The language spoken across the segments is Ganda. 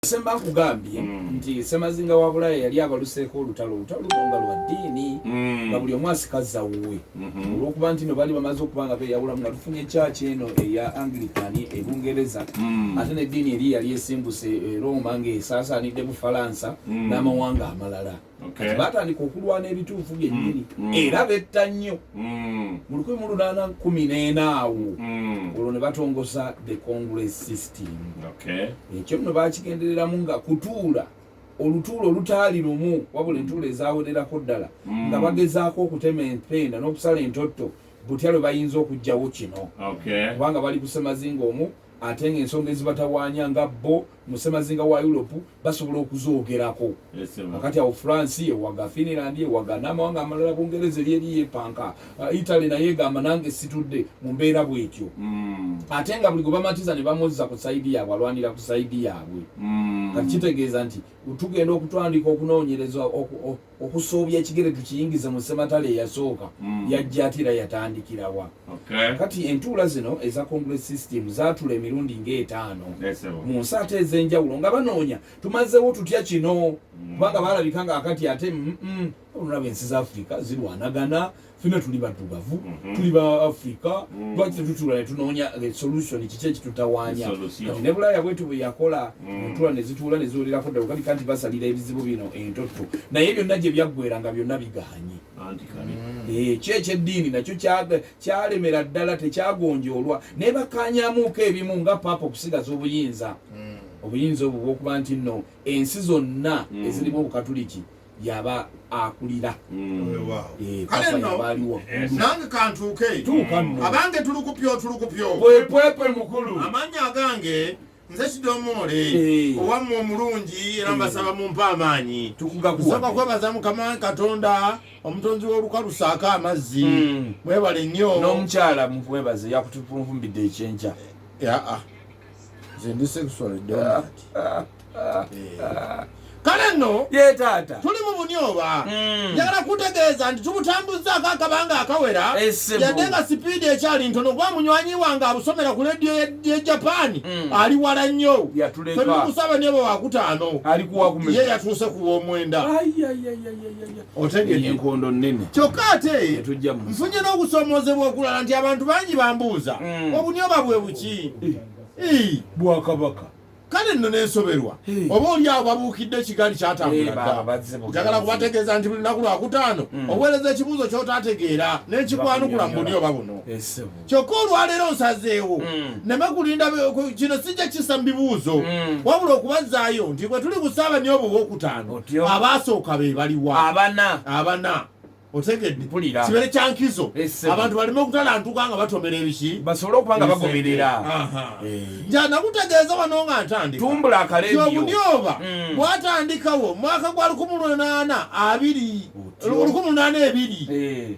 semba nkugambye hmm. nti semazinga wa bulaya yali abaluseeko olutalo olutalo luno nga lwa ddiini hmm. nga buli omu asikaza wuwe hmm. olwokuba nti no baali bamaze okuba nga beyawulamu nga tufunye ekyaki eno eya anglican e bungereza ate neddiini eri yali esimbuse e roma nga esaasaanidde bufalansa n'amawanga amalala okay. batandika okulwana ebituufu byennyini mm, mm. era betta nnyo mm. mu lukumi mu lunaana nkumi n'ena awo mm. olwo ne batongoza the congress system okay. ekyo nno bakigendereramu nga kutuula olutuulo olutaali lumu wabula entuulo ezawererako ddala mm. nga bagezaako okutema empenda n'okusala entotto butya lwe bayinza okugjawo kino kubanga bali kusemazinga omu ate nga ensonga ezibatawaanya nga bo mu ssemazinga wa Europe basobola okuzoogerako akati awo France ewaga Finland ewaga n'amawanga amalala Bungereza eri eri yepanka uh, Italy naye egamba nange situdde mu mbeera bwetyo mm. ate nga buli gwe bamatiza ne bamuzza ku saidi yaabwe alwanira ku saidi yaabwe mm. kati kitegeeza nti tugenda okutandika okunoonyereza okusoobya ekigere tukiyingize mu ssematala eyasooka mm. yajja ate era yatandikirawa okay. kati entuula zino eza congress system zatula emirundi ngaetaano mu nsi ate ez'enjawulo nga banoonya tumazewo tutya kino mm. kubanga mm. balabika nga akati ate mm -mm. olulaba ensi za afrika zirwanagana mm. fena tuli baddugavu mhm. tuli ba africa mhm. lwaki tetutula netunoonya the solution kiki ekitutawanya kati ne bulaaya bwetu bweyakola mhm. entula nezituula neziwolerako ddala ogalika nti basalira ebizibu bino entotto naye byonna gye byaggwera nga byonna biganye eh, ekyo ekyeddiini nakyo kyalemera ddala tekyagonjoolwa naye bakanyamuuko ebimu nga paapa okusigaza obuyinza obuyinza obwo bwokuba nti nno ensi zonna ezirimu obukatuliki yaba akulira aliwo nange kantuuke abange tulukupyo tulukupyo pwepwepe mukulu amanya agange nze kidomoole eh. owamma omulungi era mbasaba eh. mumpa amaanyi nsaba kwebaza mukama katonda omutonzi w'olukalu saako amazzi hmm. mwebale nnyo n'omukyala mukwebaze yakutupunvumbidde ekyenkya eh, ah. nze ndi sexually dominant kale nno tuli mu bunyoba hmm. njagala kutegeeza nti tubutambuzzaako akabanga akawera yadde nga sipiidi ekyali ntono kuba munywanyi wange abusomera ku lediyo ye japaani hmm. ali wala nnyo febikusaba nebo wakutaano ye yatuuse ku w'omwenda otegedde enkondo nnene kyokka ate nfunye n'okusoomoozebwa okulala nti abantu bangi bambuuza mm. obunyoba bwe buki bwakabaka kale nno nensoberwa oba oli awo babuukidde ekigaali kyatambulajagala kubategeeza nti buli naku lwakutaano mm. oweereza ekibuuzo kyotaategeera nenkikwanukula mu buli oba buno kyokka olwaleero nsazeewo mm. neme kulinda kino sijja kisa mu bibuuzo mm. wabula okubazaayo nti bwe tuli kusaaba nyo obwo bwokutaano abaasooka be baliwa abana abana otegedde kibeere kyankizo abantu baleme okutalantuka nga batomera ebiki basobole okuba nga bagoberera eh. nja nakutegeeza wano nga ntandikatumbula akareobunioba mm. bwatandikawo mwaka gwa lukumi lunaana abiri lukumi lunaana ebiri eh.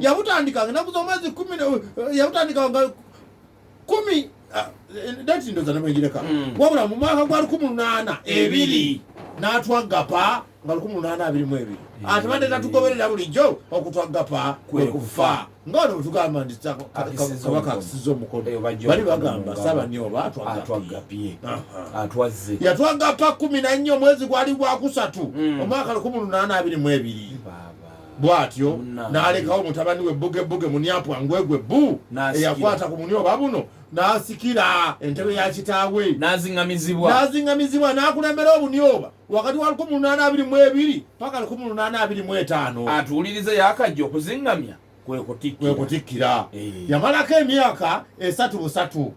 yabutandikanga enaku zomwezi kumi eh, yabutandikanga kumi ah, eh, dati ndoza namwegireka hmm. wabula mu mwaka gwa lukumi lunaana ebiri natwagapa nga lukumi lunaana abiri mu ebiri hmm. atubadde tatugoberera bulijjo okutwagapa kwekufa nga wano bwetugamba nti kabaka akusiza omukono eh, bali bagamba saba nioba atwagapye atwazze yatwagapa kumi nannyo omwezi gwali gwakusatu hmm. omwaka lukumi lunaana abiri mu ebiri bw'atyo n'alekawo mutabani we bbugebbuge munyapwa ngwegwe bbu eyakwata ku munyoba buno n'asikira entebe ya kitaawe n'aziŋŋamizibwa n'akulembera obunyoba wakati wa lukumi lunaana abiri mu ebiri paka lukumi lunaana abiri mu etaano atuwulirize yakajja okuziŋŋamya kwe kutikkira eh. yamalako emyaka esatu busatu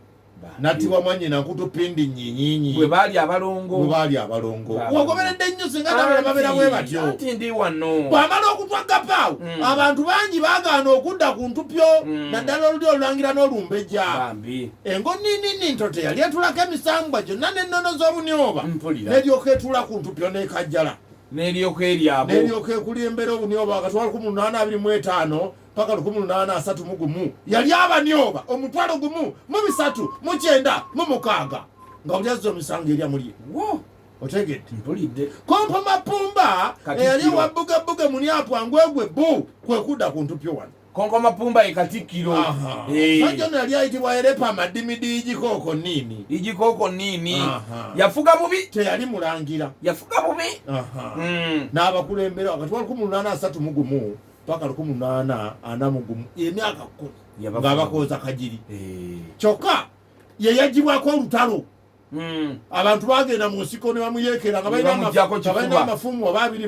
natibwa mwanyina nkutu pindi nyinyinyi bwe baali abalongo bwe baali abalongo wagoberedde nnyo singa nabala babeera bwe batyo anti ndi wano bwamala okutwa gapaawo mm. abantu bangi bagaana okudda ku ntupyo mm. naddala oluli olulangira n'olumbejja engo ninini nto teyali etulako emisambwa gyonna n'ennono z'obunyoba neryoka etula ku ntupyo n'ekajjala neryoka eryabo neryoka ekulembera obunyoba akatwala ku munaana abiri mu etaano paka lukumi lunaana asatu mu gumu yali abanyoba omutwalo gumu mu bisatu mu kyenda mu mukaaga nga buli azza omisango erya mulye otegedde mpulidde kompa mapumba eyali ewabbugebbuge muni apwangwegwe bu kwe kudda ku ntupyo wano konko mapumba ye katikkiro eh. sajja no yali ayitibwa erepa amadimidi igikooko niini igikooko niini yafuga bubi teyali mulangira yafuga bubi hmm. n'abakulembera wakati wa lukumi lunaana asatu mu gumu paka lukumi naana ana mugumu emyaka kumi ngaabakoza kajiri eh. kyokka yeyajibwako olutalo hmm. abantu bagenda mu nsiko ne bamuyekera nga balina amafumu oba abiri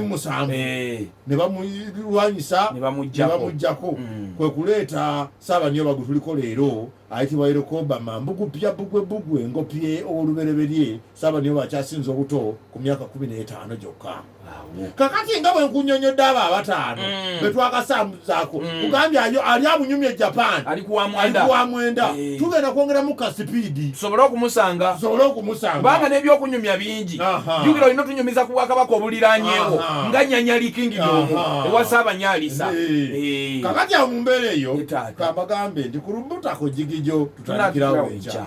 mumusanvu eh. ne bamulwanyisa ne bamujjako hmm. kwe kuleeta saabaniyo bagu tuliko leero ayitibwa yerokobama mbugupya bugwe bugwe ngopye owolubereberye Ssaabadinkoni bw'akyasinze obuto ku myaka kkumi n'etaano gyokka. Kakati nga bwe nkunyonyodde abo abataano mm. be twakasambuzaako mm. kugambye ali abunyumya e Japan ali ku wa mwenda eh. tugenda kwongeramu ka sipiidi tusobole okumusanga tusobole okumusanga kubanga n'ebyokunyumya bingi jukira olina otunyumiza ku bwakabaka obuliranyewo nga nyanyali kingi domu ewa saabanyalisa eh. eh. kakati awo mu mbeera eyo kambagambe nti ku lubutako jigigyo tutandikirawo enkya